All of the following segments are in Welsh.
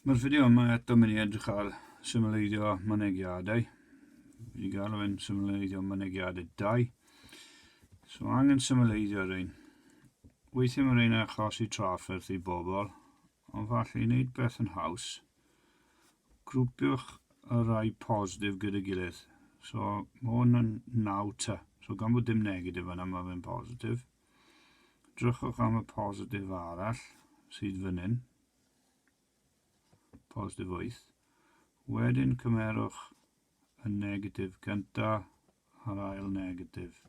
Mae'r fideo yma eto mynd i edrych ar symleiddio mynegiadau. Wedi gael o'n symleiddio mynegiadau dau. So angen symleiddio rhain. Weithiau mae rhain achosi trafferth i bobl, ond falle i wneud beth yn haws, grwpiwch y rai positif gyda gilydd. So mae hwn yn 9 ta. So gan bod dim negatif yna, mae fe'n positif. Drychwch am y positif arall sydd fan hyn. Positif 8. Wedyn cymerwch y negatif gynta a'r ail negatif.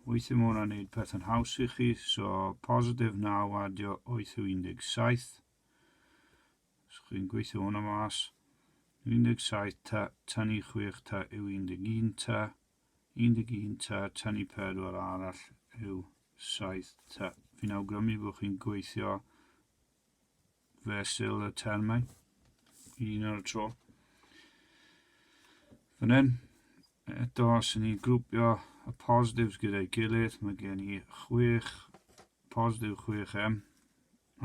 Weithio mae hwnna'n gwneud pethau'n haws i chi, so positif 9 adio 8 yw 17. Os chi'n gweithio hwnna mas, 17 ta, tan i 6 ta yw 11 ta, 11 tŷ tynnu pedwar arall yw 7 tŷ. Fi'n awgrymu bod chi'n gweithio fesul y termau un ar y tro. Fan hyn, eto, os ydyn ni'n grwpio y positives gyda'i gilydd, mae gen i 6, positif 6M,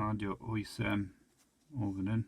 adio 8M o fan hyn.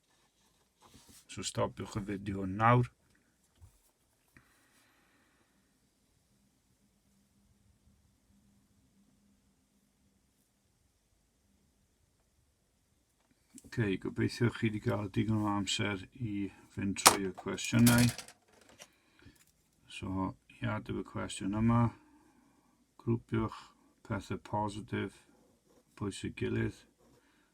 So stopiwch y fideo yn nawr. Ok, gobeithio chi wedi cael digon o amser i fynd trwy y cwestiynau. So, i adw y cwestiwn yma, grwpiwch pethau positif, bwysig gilydd,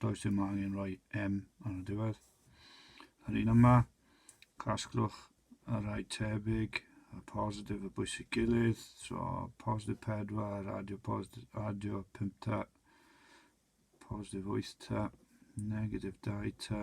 does dim angen rhoi M ar y diwedd. Yr un yma, casglwch y rhai tebyg, y positif y bwysig gilydd, so positif 4, adio, positif, adio 5 ta, positif 8 ta, negatif 2 ta,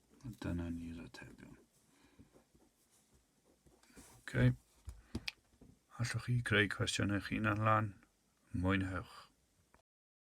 Dyna ni'r atebion. Okay. Allwch chi greu cwestiwn eich hunan lan. Mwynhewch.